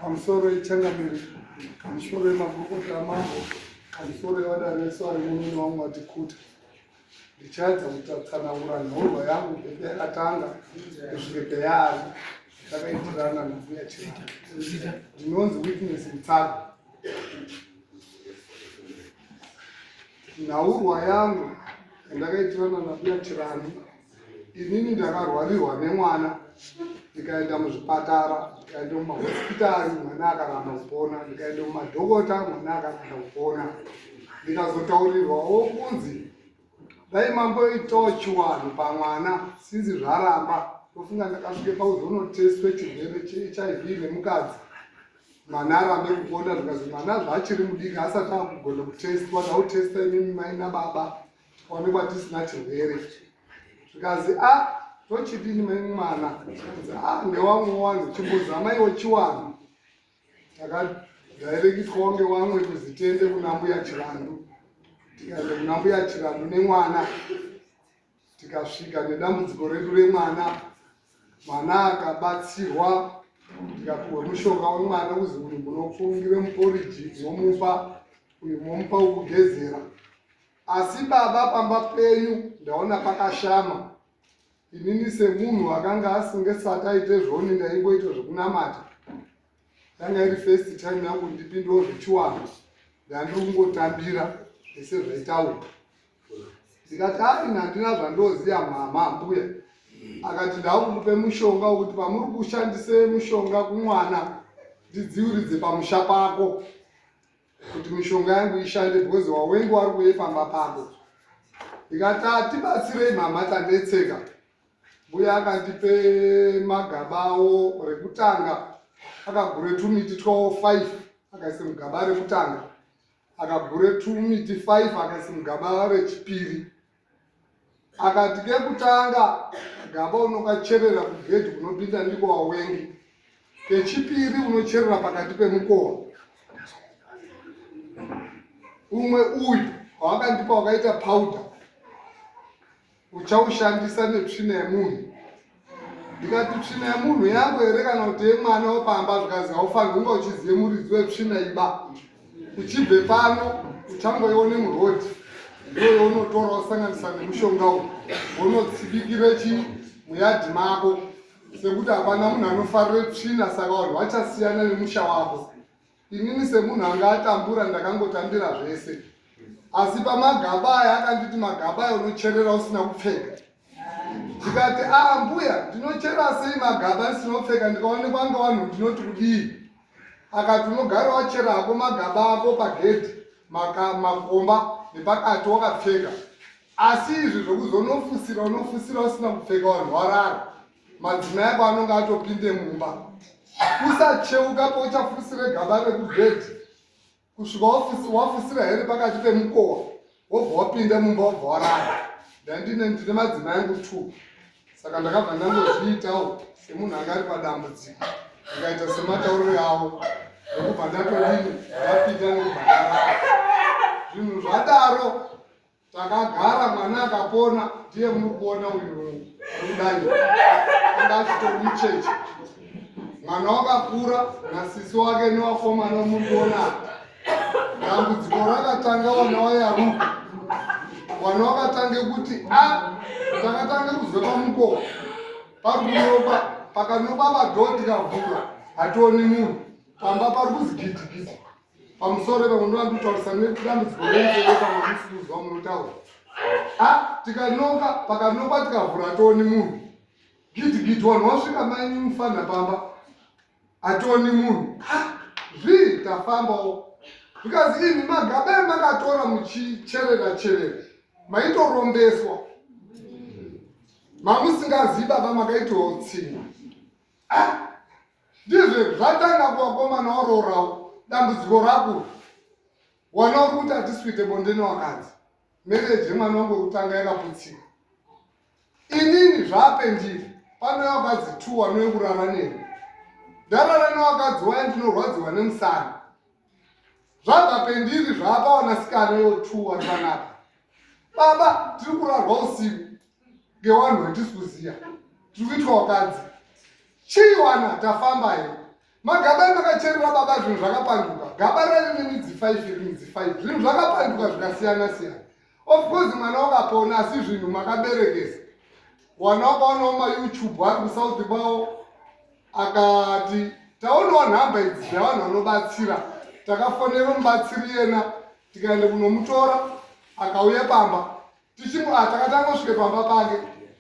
pamusoro yechangamire pamusoro yemagurukota amambo pamusoro yevadari vese vari mumini wangu vatikuta ndichaedza kutatsanangura nhorwa yangu bebe yakatanga kusvike peyaari takaitirana nabuya chii ndinonzi witness mutsago nhaurwa yangu yandakaitirana nabuya chirani inini ndakarwarirwa nemwana ndikaenda muzvipatara ndikaenda mumahospitari mwana akaramba kupona ndikaenda mumadhokota mwana akaramba kupona ndikazotaurirwawo kunzi dai mamboitawo chiwanhu pamwana sinzi zvaramba ndofunga ndakasvike pauzonotestwe chirwere chehiv nemukadzi mwana arambe kupona zvikazi mwana zvaachiri mudiki asati akugona kutestwa tautesta imimi mai nababa tikaonekwa tisina chirwere zvikazi a ah, tochidini mwana a ah, ndewamwe wangu chimbozama iwo chiwanhu takadhairekitwawo ngewamwe kuzitende kuna mbuya chirandu tikaenda kuna mbuya chirandu nemwana tikasvika nedambudziko redu remwana mwana akabatsirwa ndikapiwa mushonga wemwana kuzi uyu munofungira muporiji momupa uyu momupa wekugezera Asi baba pamba penyu ndaona pakashama. Inini semunhu akanga asingasati aite zvoni ndaingoita zvekunamata. Yanga iri first time yangu ndipindewo zvechiwanhu. Ndandiri kungotambira ese zvaitaura. Ndikati ari nandina zvandoziya mama mbuya. Akati ndakukupe mushonga wekuti pamuri kushandise mushonga kumwana ndidziuridze pamusha pako. kuti mishonga yangu ishande because wawengu wari kuye pamba pako ndikati atibatsirei mama tanetseka mbuya akandipe magabawo rekutanga akagure tumiti twawo five akaise mugaba rekutanga akagure tumiti five akaise mugaba rechipiri akati kekutanga gaba unokacherera kugedhi kunopinda ndiko wawengi kechipiri unocherera pakati pemukova umwe uyu wawakandipa wakaita powder uchaushandisa netsvina yemunhu ndikati tsvina yemunhu yangu here kana kuti yemwana wepamba zvikanzi haufanhi kunga uchizive muridzi wetsvina iba uchibve pano uchangoione murodi ndoyo unotora usanganisa nemushonga uyu unotsibikire chi muyadhi mako sekuti hapana munhu anofarire tsvina saka vanhu vachasiyana nemusha wako Inini semunhu anga atambura ndakangotambira zvese. Asi pamagaba aya akanditi magaba aya unocherera usina kupfeka. Ndikati ah mbuya ndinochera sei magaba asina kupfeka ndikaonekwa anga wanhu ndinoti kudii. Akati unogara wachera hako magaba ako pagedhi makomba nepakati wakapfeka. Asi izvi zvokuzonofusira unofusira usina kupfeka wanhu warara. madzimai ako anonge atopinde mumba usacheuka pauchafusire gaba rekubhedhi kusvika wafusira here pakati pemukowa wobva wapinde mumba wobva warara ndandine ndine madzimai angu two saka ndakabva ndangozviitawo semunhu anga ari padambudziko ndikaita sematauriro yavo nekubva ndatodini ndapinda nekubva ndarara zvinhu zvadaro takagara mwana akapona ndiye muri kuona uyu arikudai anga achitomi chechi mwana wakakura nasisi wake newakomana muri kuona dambudziko rakatanga wana wayaruka wana wakatange kuti a ah, takatange kuzwe pamukoko parukunopa pakanopa vadhodhi kavhura hationi munhu pamba pari kuzigidigidi pamusoro ipa munoda nditaurisa nedambudziko renzewe kana musikuzwa munotaura a tikanoka pakanoka tikavhura toni munhu gidigidi wanhu wasvika mai mufana pamba atoni munhu a zvii tafambawo because ini magabe makatora muchicherera cherera maitorombeswa mamusingazivi baba makaitotsinya a ah! ndizvo zvatanga kuvakomana waroorawo dambudziko rako wana uri kuti hatisuite bonde newakadzi mereji yemwana wangu wekutanga yakaputsika inini zvaapendiri panouya wakadzi two wanouye kurara neni ndarara newakadzi waye ndinorwadziwa nemusana zvabva pendiri zvaapa wanasikana yo two wari panapa baba tiri kurarwa usiku ngewanhu wetisi kuziya tiri kuitwa wakadzi chii wana tafamba yo magaba emakacherera baba zvinhu zvakapanduka gaba raive nemidzi five iri midzi five zvinhu zvakapanduka zvikasiyana siyana of course mwana wakapona asi zvinhu makaberekesa wana wakaonawo mayoutube ari kusouth kwawo akati taonawo nhamba idzi dzevanhu vanobatsira takafonera mubatsiri yena tikaenda kunomutora akauya pamba tichimbo ah, taka tangosvike pamba pake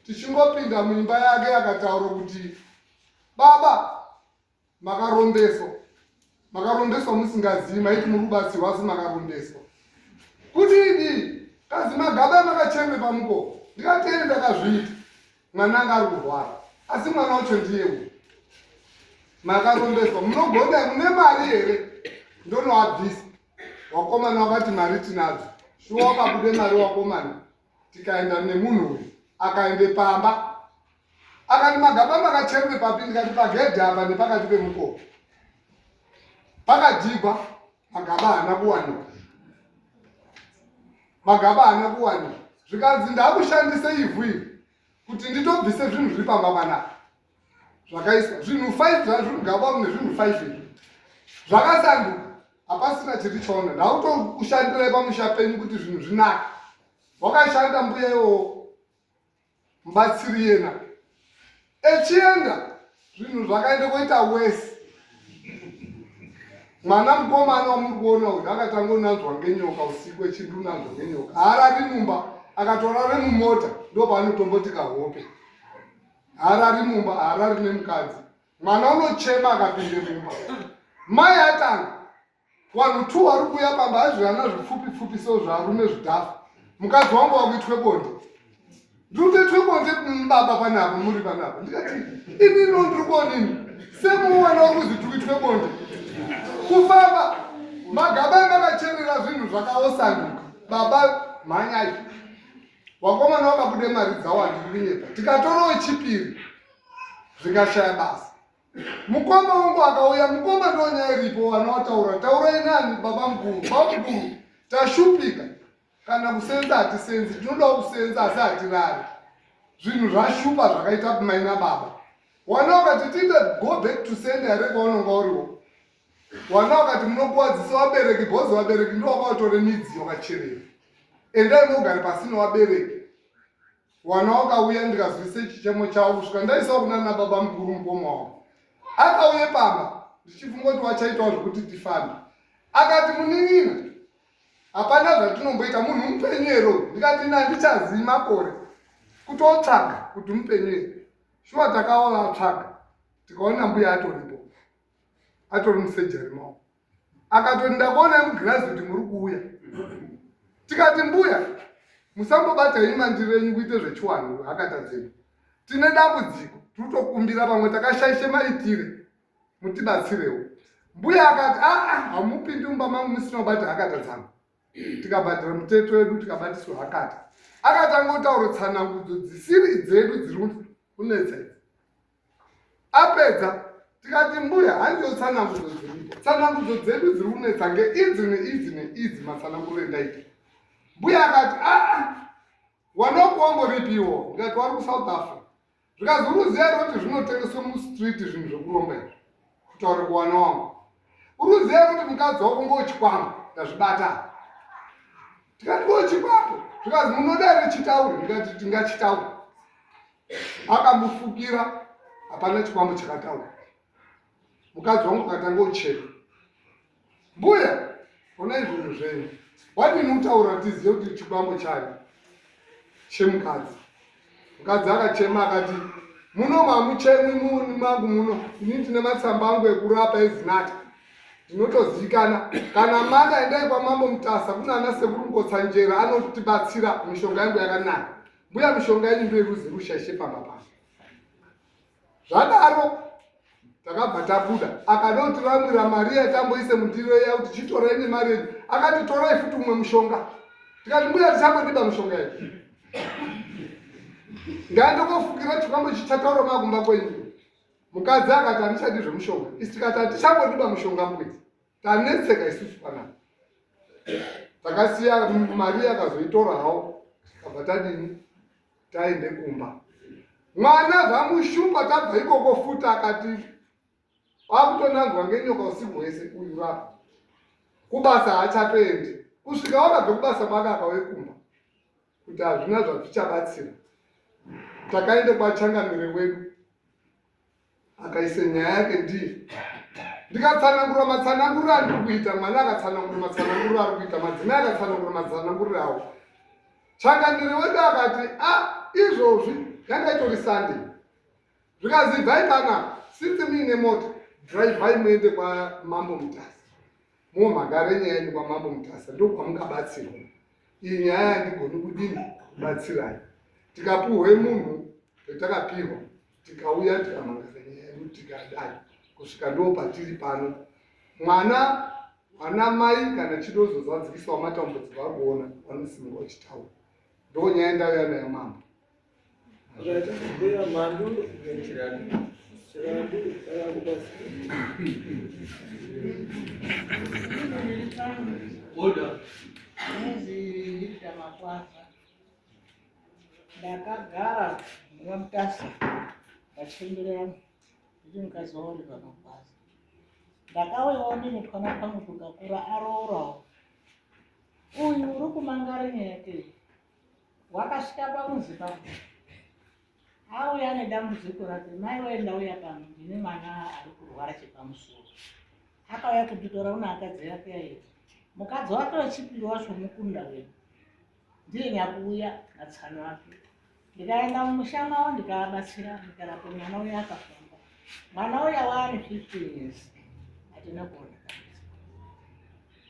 tichingopinda muimba yake akataura kuti baba makarombeswa makarombeswa musingazivi maiti muri kubatsirwa asi makarombeswa kuti idi kazi magaba makachembe pamuko ndikatee ndakazviita mwana anga ari kurwara asi mwana wacho ndiye u makarombeswa munogonda mune mari here ndonoabvisa Wakomana wakati mari tinadzo. Shuwa babude mari wakomana. Tikaenda nemunhu uyu. Akaende pamba. Akati magaba makacherwe papi ndikati pagedhe apa nepakati pemukoko. Pakadzigwa magaba haana kuwanikwa. Magaba haana kuwanikwa. Zvikanzi ndakushandisa ivhu iri kuti nditobvise zvinhu zviri pamba panapa. zvakaiswa zvinhu five zvazvo mugaba mune zvinhu five izvi zvakasanduka hapasina chiri chaona ndautokushandirai pamusha penyu kuti zvinhu zvinaka wakashanda mbuya iwowo mubatsiri yena echienda zvinhu zvakaenda koita wese mwana mukomana wamuri kuona uyu akatanga unanzwa ngenyoka usiku echindi unanzwa ngenyoka haarari mumba akatorare mumota ndopaanotomboti kahope harari mumba harari nemukadzi mwana unochema akapinde mumba mai atanga vanhu two vari kuuya pamba azvirana zvipfupi pfupi so zvarume zvidhafu mukadzi wangu wakuitwe bonde ndinotoitwe bonde baba panapa muri panapa ndikati ini no ndiri kuonini semuwana wari kuzi tikuitwe bonde kufamba magaba emakacherera zvinhu zvakaosanduka baba mhanyai vakomana vakabude mari dzawo handikurinyepa tikatorawo chipiri zvingashaya basa mukoma wangu akauya mukoma ndonyaya iripo vana wataura taurai nani baba mguru baba mguru tashupika kana kusenza hatisenzi tinodawo kusenza asi hatirari zvinhu zvashupa zvakaita kumaina baba wana wakati tiite go back to sende yare kwaunonga uriwo Wana wakati munokuwadzisa wabereki bhozi wabereki ndiwo wakautore midziyo kacherera. Endai mogare pasi newabereki. Wana wakauya ndikazwise chichemo chavo kusvika ndaisawo kuna na baba mukuru mukoma wavo. Akauye pamba ndichifunga kuti wachaitawo zvekuti tifambe. Akati munin'ina hapana zvatinomboita munhu mupenyu ero ndikati ina ndichazii makore kutotsvaga kuti mupenyu ere. Shuwa takaola tsvaga tikaona mbuya atoripo. atori musejari mao akatoti ndakuona mugirazi kuti muri kuuya tikati mbuya musambobata ini mandiro enyu kuite zvechiwanhu hakata dzedu tine dambudziko tiri kutokumbira vamwe takashaishe maitire mutibatsirewo mbuya akati aa ah, ah, hamupindi umba mangu musina kubata hakata dzangu tikabhadhira muteto wedu tikabatiswa hakata akati angotaura tsanangudzo dzisiri dzedu dziri kunetsa idzi apedza tikati mbuya handiwo tsanangudzo dzedu tsanangudzo dzedu dziri kunetsa nge idzi neidzi neidzi matsananguro endaita mbuya akati aa ah, ah, wanokuwamboripiwo ndikati wari kusouth africa zvikazi uruziya roti zvinotengeswa mustreet zvinhu zvekuromba izvi kutaura kuwana wangu uruziya roti mukadzi wako ngochikwambo ndazvibata tikati ngochikwambo zvikazi munoda rechitauri ndikati tingachitauri akamufukira hapana chikwambo chakataura mukadzi wangu akatanga uchena mbuya ona izvozvo zvenyu wadini utaura tizive kuti chikwambo chani chemukadzi mukadzi akachema akati muno mamuchemwi muni mangu muno ini ndine matsamba angu ekurapa ezinata ndinotozivikana kana mada endai kwamambo mutasa kuna ana sekuru ngotsanjera anotibatsira mishonga yangu yakanaka mbuya mishonga yedu ndoiruzi rushashe pamba pano zvadaro takabva tabuda akanoti vamwira mari yatamboise mundiro iya kuti chitorai nemari yedu akati torai futi umwe mushonga tikati mbuya tichangodiba mushonga yedu ngandokofukira chikwambo chichataura makumba kwenyu mukadzi akati handichadi zvemushonga isi tikati hatichangodiba mushonga mbuya tanetseka isusu panapa takasiya mari akazoitora hawo kabva tadini taende kumba mwana zvamushupa tabva ikoko futi akati akutonanzwa ngenyoka usiku hwese uyu rapa kubasa haachatoendi kusvika wakabve kubasa mwaka akawe kumba kuti hazvina zvazvichabatsira takaenda kwachangamire wedu akaisa nyaya yake ndii ndikatsanangura matsananguriro andiri kuita mwana akatsanangura matsananguriro ari kuita madzimai akatsanangura matsananguriro awo changamire wedu akati a ah, izvozvi yanga itori sunday zvikanzi ibvai pana since muine mota dhiraivhai muende kwamambo mutasa mo magare nyaya yenyu kwamambo mutasa ndokwamungabatsirwa iyi nyaya yandigoni kudini kubatsirai tikapuhwe munhu vetakapihwa tikauya tikamangare nyaya yedu tikadai kusvika ndo patiri pano mwana ana mai kana chidozo zvadzikiswa matambudziko akuona vanosimira wachitaura ndonyaya ndauya nayo mambo ndakagara nguva mutasa vachembere yangu ndichi mukadzi wavo uri pamagwaza ndakauyawo ndine twana pangu tukakura arourawo uyu uri kumangara nyaya yake wakasvika pamuzi pako auya nedambudziko rake mai waenda uya pano ndine mwana ari kurwara chepamusoro akauya kunditora una akadzi yake yaiti mukadzi wake wechipiri wacho mukunda wedu ndiye nyakuuya natsano wake ndikaenda mumusha mavo ndikavabatsira ndikarapo mwana uya akafamba mwana uya waane fifteen years hatina kuona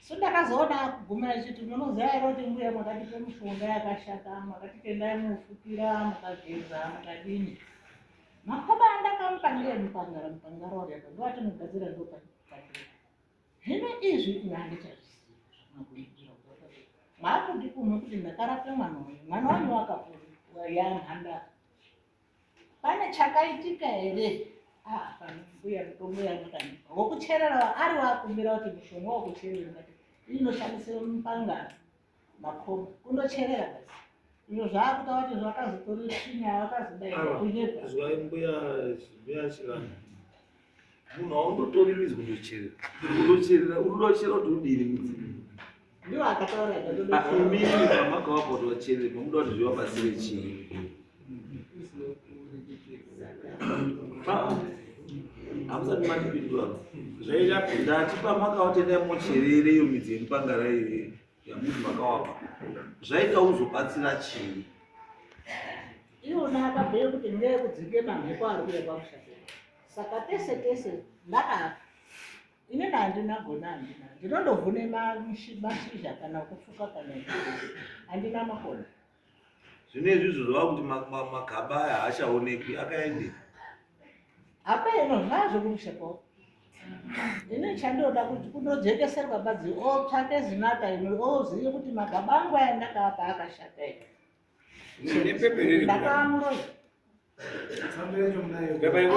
so ndakazoona akuguma achiti munoziva here kuti mbuya makatipe mishonga yakashata makatitendai mufukira makageza makadini makoba andakamupa ndiye mupangara mupangara wariapa ndovati mugadzira ndopaaira zvino izvi inandichazvizivakudikumwe kuti ndakarape mwana uyu mwana wanyu wakapona yanhandara pane chakaitika here ah, panobuya mitombo yamakani wokucherera ari wakumbira kuti mushonga wokucherera kati inoshandisa mupanga makomba kundocherera basi izvo zvaakuta kuti zvakazotori svinya vakazodaira kunyepa munhu aungotori mizi kundocherera kundocherera unodocherera kuti udini mudzimu ndiwo akataura amini mamaka wako kuti vacherere pamuda kuti zvivabatsire chii hamusati matipindura zvaita ndatipa maka watendai mocherere iyo midzi yemupangara iyoyo yamuti makawapa zvaita uzobatsira chii iwona akabhuya kuti ngeye kudzinge mamhepo ari kuya kwakushata saka tese tese ndakapa ini nandina gona andina ndinondovhune mashizha kana kufuka kana andina makona zvinezvi izvo zvava kuti magaba aya haachaonekwi akaende apa ino zvaazvo kumushepo ine chandoda kuti kunojekeserwa badzi otsvake zinata ino ozive kuti magaba angu aya ndakaapa akashata ino ndakaamuroya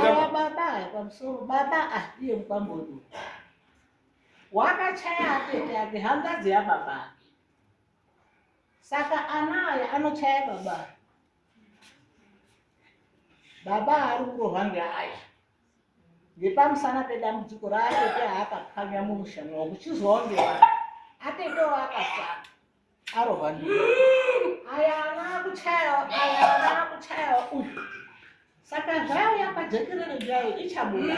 awa baba aya pamusoro baba ahiye mukwambodu wakachaya atete ake hangadzi yababa ake Saka ana aya anochaya baba aya. Baba ari kurohwa ngeaya. Ngepamusana pedambudziko raatete aakapwanya mumusha mwawo kuchizwawo ngevana. Atetewo akasara arohwa ndiwo. Aya ana akuchayawo aya ana akuchayawo uyu. Saka zvaiya pajekerere jayo ichabuda.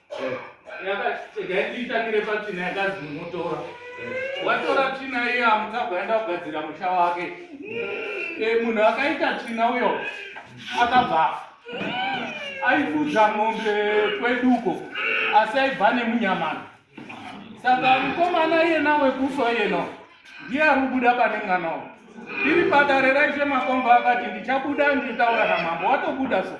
yakaitangire patsvina yakazi munotora watora tsvina iye amukagoenda kugadzira musha wake munhu akaita tsvina uyo akabva aifudza mombe kweduko asi aibva nemunyamana saka mukomana iyena wekufa iyeno ndiye ari kubuda pane mwana wo iri padare raishe makomba akati ndichabuda nditaura namambo watobuda so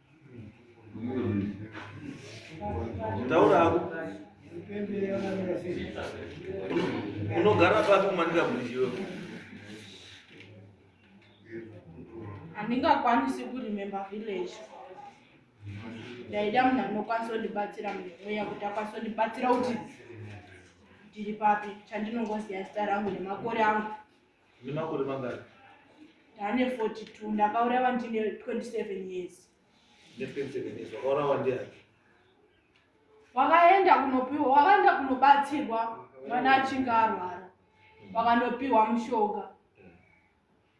taura hako unogara papi umanika buriziwe handingakwanisi kuremember village ndaida munhu anokwanisa kundibatsira mweya kuti akwanisa kundibatsira kuti ndiri papi chandinongoziva zita rangu nemakore angu Ndine makore mangani? Ndane 42, ndakaurawa ndine 27 years. Ndine 27 years, wakaurawa ndiani? Wakaenda kunopiwa, wakaenda kunobatsirwa mwana achinge arwara. Mm. Wakanopiwa mushonga. Mm.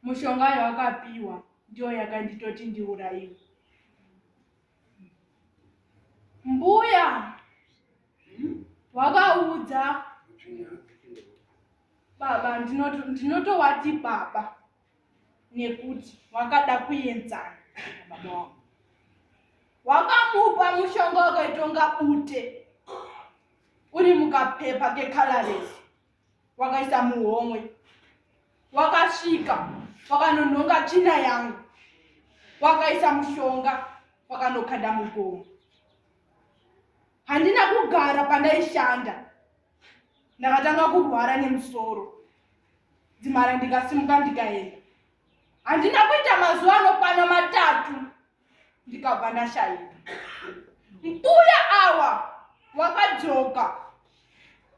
Mushonga yawakapiwa ndiyo yakanditoti ndiurayiwe. Mbuya wakaudza baba ndinotowati baba nekuti wakada kuenzana baba wako wakamupa mushonga wakaitonga bute uri mukapepa kekaloresi wakaisa muhomwe wakasvika wakanonhonga tsvina yangu wakaisa mushonga wakanokanda mugomo handina kugara pandaishanda ndakatanga kurwara nemusoro dzimara ndikasimuka ndikaenda handina kuita mazuva anokwana matatu ndikabva ndashaika mbuya awa wakadzoka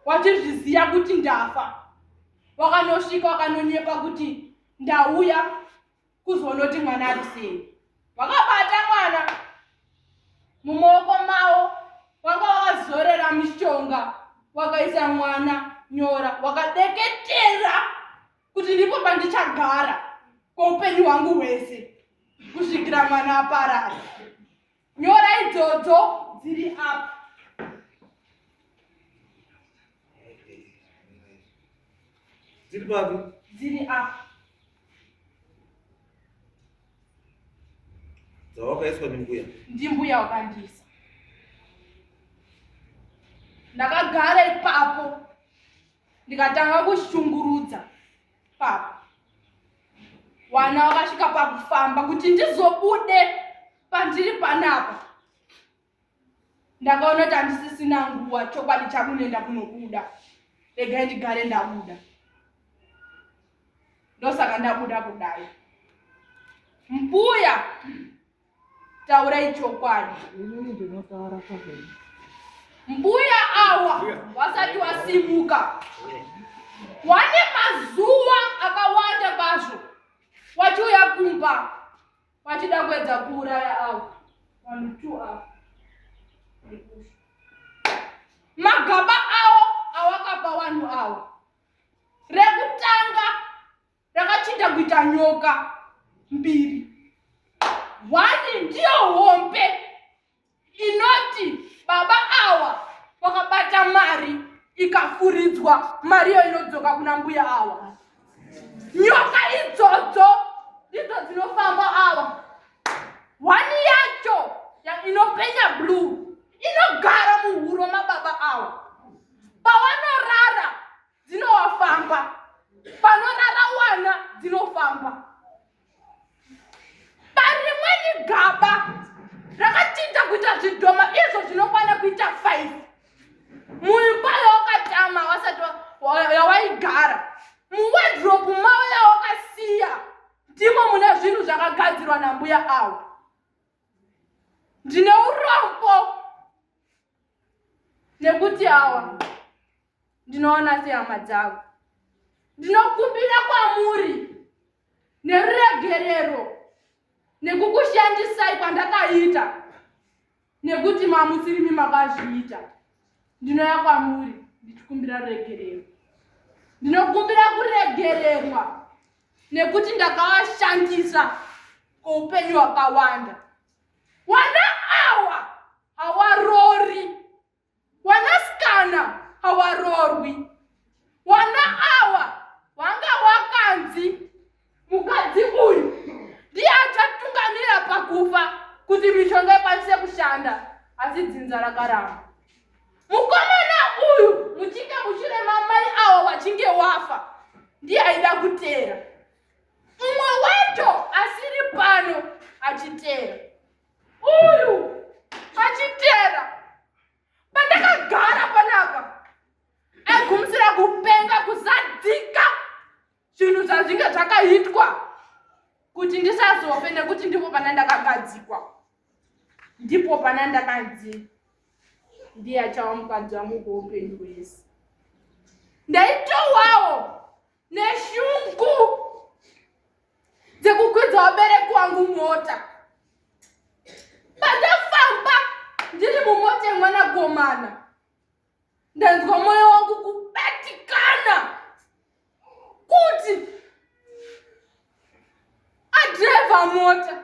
wachizviziva kuti ndafa wakanosvika wakanonyepa kuti ndauya kuzonoti mwana ari sei wakabata mwana mumaoko mawo wanga wakazorera mishonga wakaisa mwana nyora wakadeketera kuti ndipo pandichagara kweupenyu hwangu hwese kusvikira mwana aparara nyora idzodzo dziri apa dziri papi dziri apa dzawakaiswa ndimbuya ndimbuya wakandiisa ndakagara ipapo ndikatanga kushungurudza papa wana wakasvika pakufamba kuti ndizobude pandiri panapa ndakaona kuti handisisina nguva chokwadi chakunenda kunobuda regai ndigare ndabuda ndosaka ndabuda kudai mbuya taurai chokwadi mbuya awa wasati wasimuka wane mazuva akawanda kwazvo wachiuya kumba wachida kuedza kuuraya awa vanhu two awa magaba awo awakapa wanhu awa rekutanga Rakachinja kuita nyoka mbiri. One ndiyo hombe inoti baba awa wakabata mari ikafuridzwa mari iyo inodzoka kuna mbuya awa. Nyoka idzodzo ndidzo dzinofamba awa. One yacho ya- inopenya blue inogara muhuro mababa awa. Pawanorara dzinofamba panorara wana dzinofamba parimweni gaba rakachinja kuita zvidhoma izvo zvinokwana kuita five muimba yawakatama wasati yawaigara muwedropu mavo yawakasiya ndimo mune zvinhu zvakagadzirwa nambuya avo ndine urombo nekuti awa ndinoona sehama dzavo ndinokumbira kwamuri neruregerero nekukushandisai kwandakaita nekuti mamusirimi makazviita ndinoya kwamuri ndichikumbira ruregerero ndinokumbira kuregererwa nekuti ndakavashandisa kweupenyu hwakawanda Wana awa hawarori. Wanasikana hawarorwi. Wana awa wanga wakanzi mukadzi uyu ndiye achatungamira pakufa kuti mishonga ikwanise kushanda asi dzinza rakaramba. Mukomana uyu muchinge muchirema mai awa wachinge wafa ndiye aida kuteera. Mumwe wacho asiri pano achiteera. Uyu achiteera. Pandakagara panapa aigumisira kupenga kuzadzika zvinhu zvazvinge zvakaitwa kuti ndisazofe nekuti ndipo pana ndakagadzikwa ndipo pana ndakanzi ndiye achava mukadzi wangu kweupenyu hwese ndaitowawo neshungu dzekukwidza wabereki wangu mota pandafamba ndiri mumota yemwana gomana ndanzwa moyo wangu kubatikana kuti adrevha mota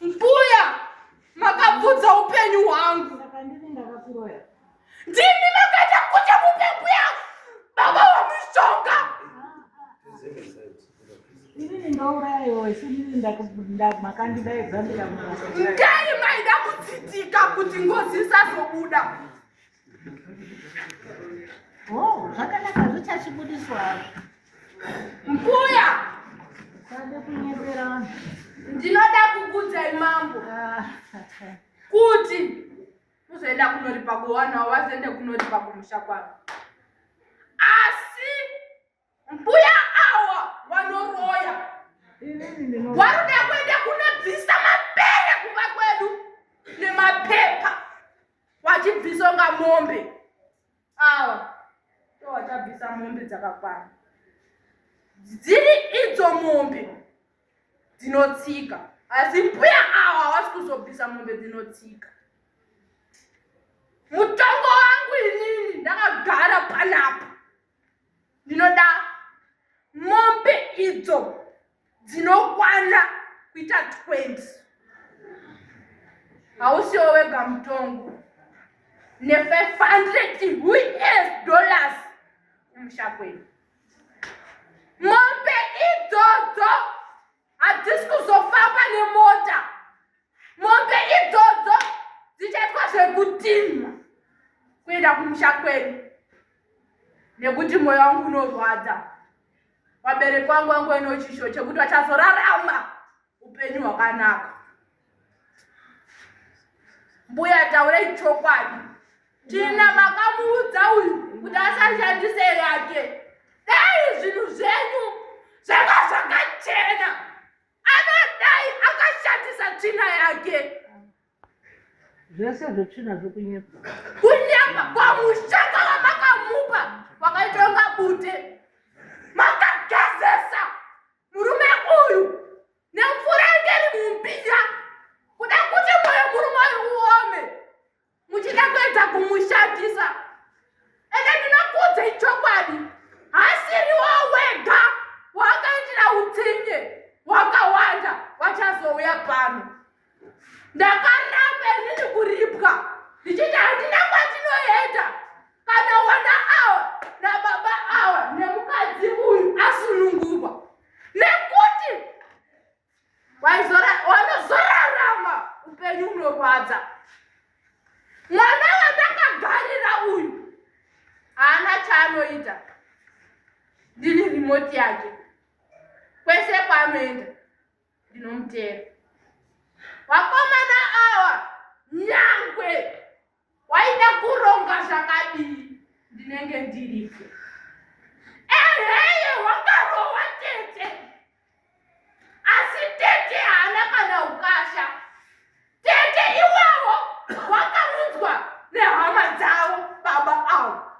Mbuya makabvudza upenyu hwangu. Ndimi makaita kuti mupe mbuya baba wamushonga. Ndai maida kutsitika kuti ngozi isazobuda. Oh, zvakanaka zvichachibudiswa mbuya sade kunyepera vanhu ndinoda kukudzai mambo ah, kuti uzoenda kunoripa kuwana wazoenda kunoripa kumusha kwavo Mbuya awa wanoroya. Waruda kuenda kunobvisa mapere kuva kwedu nemapepa wachibvisa unga mombe awa ndowachabvisa mombe dzakakwana dziri idzo mombe dzinotsika asi mbuya awa hawasi kuzobvisa mombe dzinotsika mutongo wangu inini ndakagara panapa ndinoda mombe idzo dzinokwana kuita 20 hausiwo wega mutongo ne500 us dollars kumusha kwedu mombe idzodzo Hatisi kuzofamba nemota. Mombe idzodzo dzichaitwa zvekutinha kuenda kumusha kwedu nekuti moyo wangu unorwadza. Vabereki wangu wangu ino chisho chekuti vachazorarama upenyu hwakanaka. mbuya taurei chokwadi tina makamuudza uyu kuti asashandise yake dai zvinhu zvenyu zvanga zvakachena anodai akashandisa tsvina yake zvese zvetsvina zvekunyepa kunyepa kwamushaka wamakamupa wakaitonga bute makagezesa murume uyu nemvura inge iri mumbiya kuda kuti moyo murume uyu uome muchida kuedza kumushandisa ende ndinokuudza ichokwadi hasiriwo wega wakaitira utsinye wakawanda vachazouya pano ndakaramba inini kuripwa ndichiti handina kwatinoenda kana wana awa nababa awa nemukadzi uyu asunungurwa nekuti wanozorarama upenyu unorwadza mwana wandakagarira uyu haana chaanoita ndini rimoti yake kwese kwaanoenda ndinomutera vakomana awa nyangwe waida kuronga zvakadii ndinenge ndiripo eheye wakarowa tete asi tete haana kana ukasha tete iwawo wakaunzwa nehama dzavo baba avo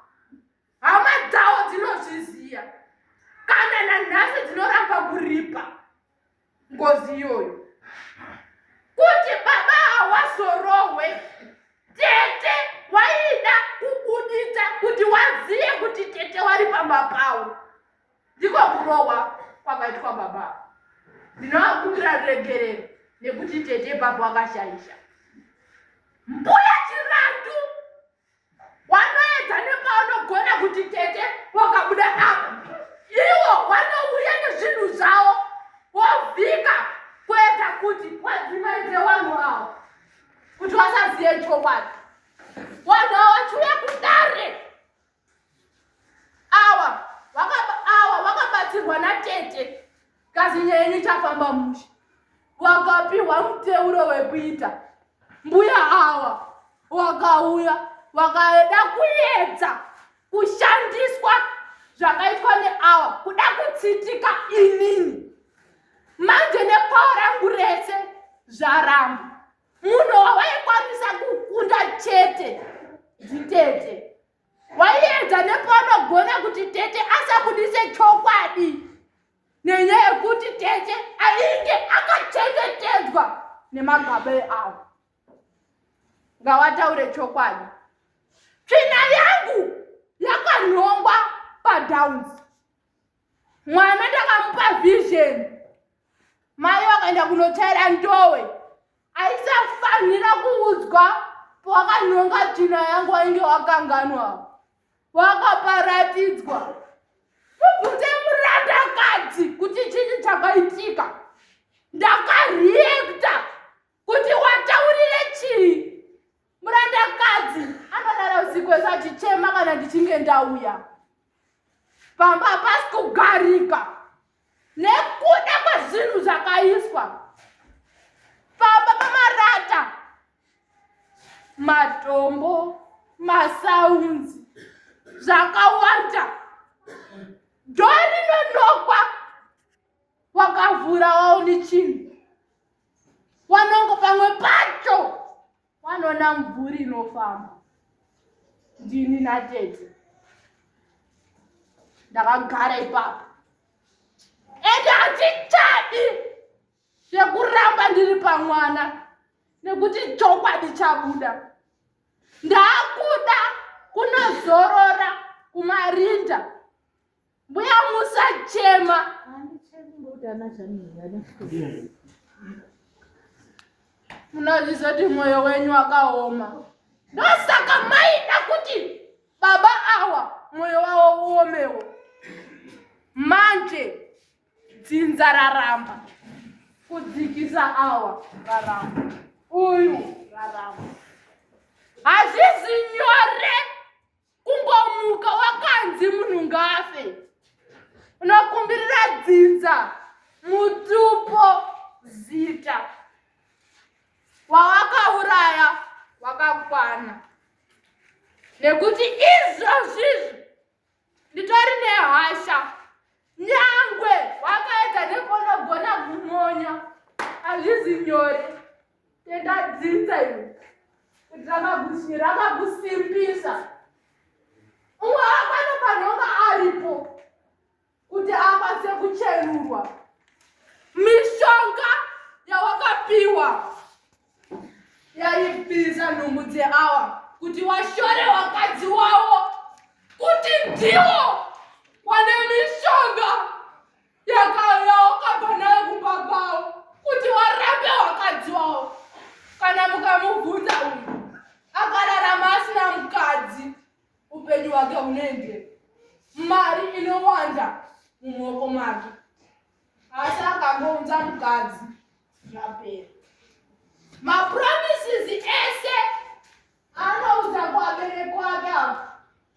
hama dzawo dzinozviziva kana nanhasi dzinoramba kuripa ngozi iyoyo kuti baba hawazorohwe tete waida kubuditsa kuti wazive kuti tete wari pamba pawo ndiko kurohwa kwakaitwa baba ndinovakumbira ruregerero nekuti tete baba wakashaisha mbuya chirandu wanoedza nepaunogona kuti tete wakabuda apa iwo wanouya nezvinhu zvawo wovhika kuedza kuti wadzimaidze wanhu awo kuti wasaziye chokwadi wanhu awo wachiuya kudare awa awa wakabatsirwa natete Kasi nyenyu chafamba mushe. Wakapiwa muteuro wekuita. Mbuya awa wakauya wakaeda kuedza kushandiswa zvakaitwa neawa kuda kutsitika inini manje nepawa rangu rese zvaramba munhu wawaikwanisa kukunda chete nditete waiedza nepaunogona kuti tete asabudise chokwadi nenyaya yekuti tete ainge akachengetedzwa nemagaba eavo ngawataure chokwadi tsvina yangu yakanhongwa padowns mwana ndakamupa vision mai vakaenda kunotaira ndowe aisafanira kuudzwa pawakanhonga tsvina yangu wainge wakanganwa wakaparatidzwa mubvunze murandakadzi kuti chii chakaitika ndakareacta kuti wataurire chii murandakadzi anodara usiku wese achichema kana ndichinge ndauya pamba pasi kugarika nekuda kwezvinhu zvakaiswa pamba pamarata matombo masounds zvakawanda dhoo rinonokwa wakavhura waone chinhu wanongo pamwe pacho wanoona mvuri inofamba ndini natete ndakagara ipapo ende handichadi zvekuramba ndiri pamwana nekuti chokwadi chabuda ndaakuda kunozorora kumarinda Mbuya musachema. Munozviziva kuti mwoyo wenyu wakaoma. Ndosaka maida kuti baba awa mwoyo wavo uomewo. Manje dzinza raramba kudzikisa awa raramba uyu raramba hazvizi nyore kungomuka wakanzi munhu ngafe unokumbirira dzinza mutupo zita wawakauraya wakakwana nekuti izvozvizvi nditori nehasha nyangwe wakaedza nekonogona kumonya hazvizi nyore Ndadzinza iwe. Ndakagusi rakagusimbisa. Umwe akano panonga aripo kuti akwanise kucherurwa. Mishonga yawakapiwa yaibvisa nhumbu dzeawa kuti washore wakadzi wawo kuti ndiwo wane mishonga. yakauya wakabva nayo kumba kwavo kuti warambe wakadzi wavo kana mukamubvunza uyu akararama asina mukadzi upenyu hwake hunenge mari inowanda mumaoko make asi akangounza mukadzi zvapera mapromises ese anoudza kuabereki wake avo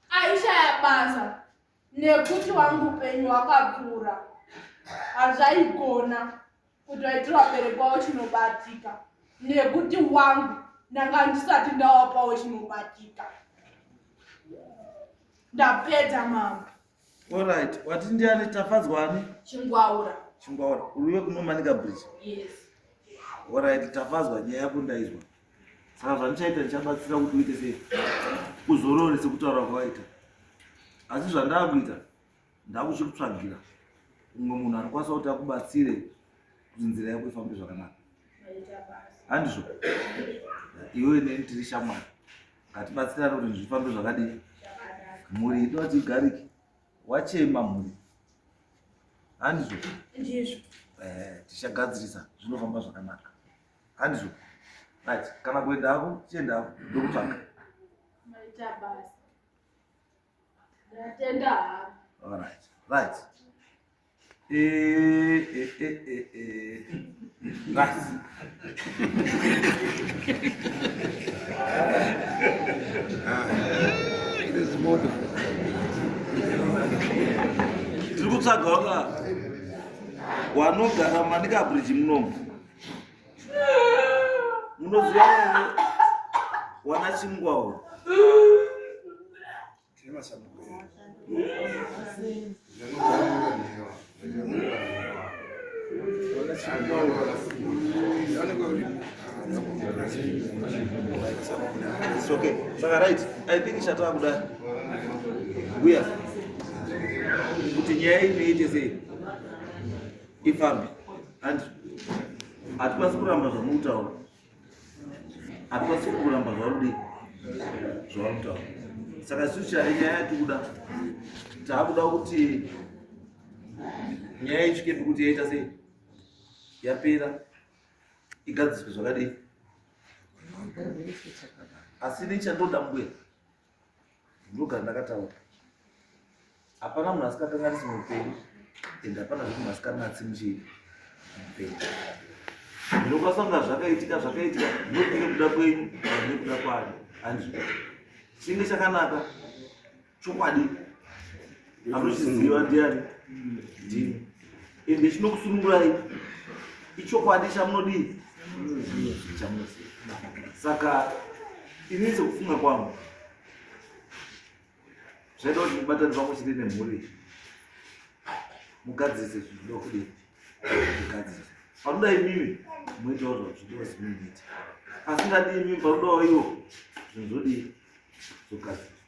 aishaya basa nekuti wangu upenyu wakapfuura hazvaigona kuti waitira waberekwawo chinobatika nekuti wangu ndanga ndisati ndawapawo chinobatika ndapedza mama orit wati ndiani tafadzwani chingwaura chingwaura uruve kunomanika bridge yes orit tafadzwa nyaya yako ndaizwa saka zvandichaita ndichabatsira kuti uite sei uzorore sekutaura kwawaita asi zvandakuita ndakuchikutsvagira umwe munhu anokwanisa kuti akubatsire kuti nzira yako ifambe zvakanaka handizvo iwe neni tiri shamwari ngatibatsirane kuti zvifambe zvakadii mhuri ido ati igariki wachema mhuri handizvo eh, tichagadzirisa zvinofamba zvakanaka handizvo right kana kuenda hako chienda hako ndokutsvaka right right eh, eh, eh, eh, right it is wonderful tiri kutsvaga waka wanogara manikabridge munomu munoziva wana chingwawo okay saka right i think chatava kuda uya kuti nyaya inoite sei ifambi and hatikwanisi kuramba zvamutaura hatikwanisi kuramba zvarudi zvautaura saka isu chai nyaya yatikuda taakuda kuti nyaya ichikepi kuti yaita sei yapera igadziswe zvakadii asi nechandoda mbuya ndogara ndakataura hapana munhu asikakanganisi mupenyu and hapana zvekuti munhu asikanatsi muchii mupenyu ndinokwasanga zvakaitika zvakaitika ndokune kuda kwenyu ane kuda kwani hanzi chinge chakanaka chokwadi anochiziva ndiani ndini ende chinokusunungurai ichokwadi chamunodii chamunoziva saka ini sekufunga kwangu zvaida kuti mubatani pamwe chete nemhuri mugadzise zvinoda kudii mugadzise panoda imimi moitawo zvazvidiwa zimimiita asingadi imimi panodawo iwo zvinhu zvodii zvogadzisa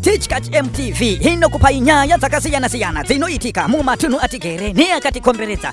Tichkach MTV inokupai nyaya dzakasiyana-siyana dzinoitika mumatunhu atigere neakatikomberedza.